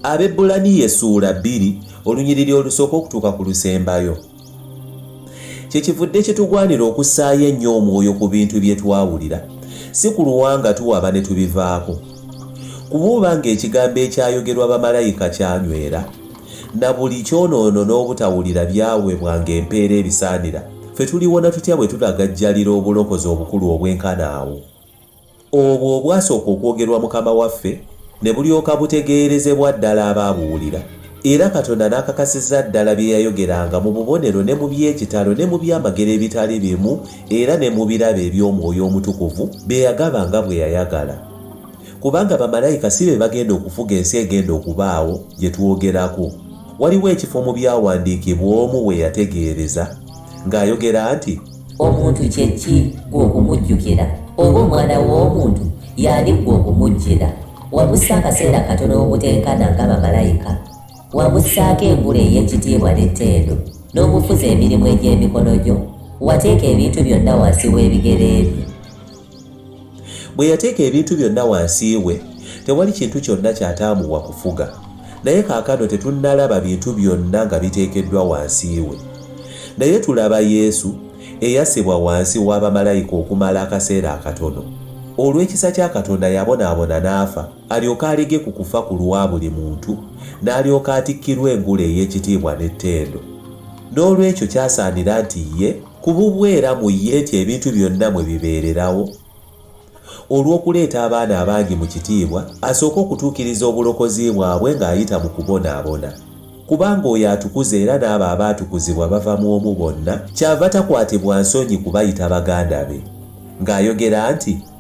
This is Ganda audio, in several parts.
abebbulaniya essuula bbiri olunyiriri olusooka okutuuka ku lusembayo kyekivudde kitugwanira okussaayo ennyo omwoyo ku bintu bye twawulira si ku luwanga tuwaba ne tubivaako kuba oba ng'ekigambo ekyayogerwa bamalayika kyanywera na buli kyonoono n'obutawulira byawebwa ng'empeera ebisaanira ffe tuliwona tutya bwe tulagajjalira obulokozi obukulu obwenkana awo Obwo obwasooka okwogerwa Mukama waffe, ne bulyoka butegeerezebwa ddala abaabuwulira, era Katonda n'akakasiza ddala bye yayogeranga mu bubonero ne mu by'ekitalo ne mu byamagero ebitali bimu era ne mu birabo eby'Omwoyo Omutukuvu bye yagaba nga bwe yayagala. Kubanga bamalayika si be bagenda okufuga ensi egenda okubaawo gye twogerako. Waliwo ekifo mu Byawandiikibwa omu we yategeereza ng'ayogera nti. omuntu kye ki gwe okumujjukira oba omwana w'omuntu yaali gwe okumujjira wamussa akaseera katono obutenkana nga bamalayika wamussaako engula ey'ekitiibwa n'ettendo n'omufuza emirimu egy'emikono gyo wateeka ebintu byonna wansi w'ebigere ebyo Bwe yateeka ebintu byonna wansi we, tewali kintu kyonna kyataamuwa kufuga. Naye kaakano tetunnalaba bintu byonna nga biteekeddwa wansi we. Naye tulaba Yesu, eyassibwa wansi wa bamalayika okumala akaseera akatono. Olw'ekisa kya Katonda yabonaabona n'afa, alyoke alege ku kufa ku lwa buli muntu, n'alyoka atikkirwa engule ey'ekitiibwa n'ettendo. N'olwekyo kyasaanira nti ye, Ku bubwe era mu ye nti ebintu byonna mwe bibeererawo, olw'okuleeta abaana abangi mu kitiibwa, asooka okutuukiriza obulokozi bwabwe ng'ayita mu kubonaabona. Kubanga oyo atukuza era n'abo abaatukuzibwa bava mu omu bonna, kyava takwatibwa nsonyi kubayita baganda be, ng'ayogera nti.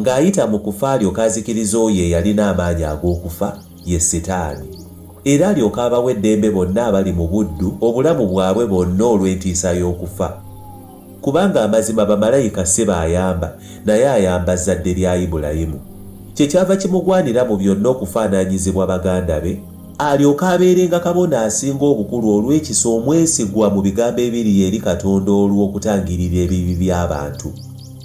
Ng'ayita mu kufa alyoke azikirize oyo eyalina amaanyi ag'okufa, ye Sitaani, era alyoke abawe eddembe bonna abali mu buddu obulamu bwabwe bonna olw'entiisa y'okufa. Kubanga amazima bamalayika si b'ayamba, naye ayamba Zzadde lya Ibulayimu. Kye kyava kimugwanira mu byonna okufaananyizibwa baganda be, alyoke abeerenga Kabona Asinga Obukulu olw'ekisa omwesigwa mu bigambo ebiri eri Katonda olw'okutangirira ebibi by'abantu.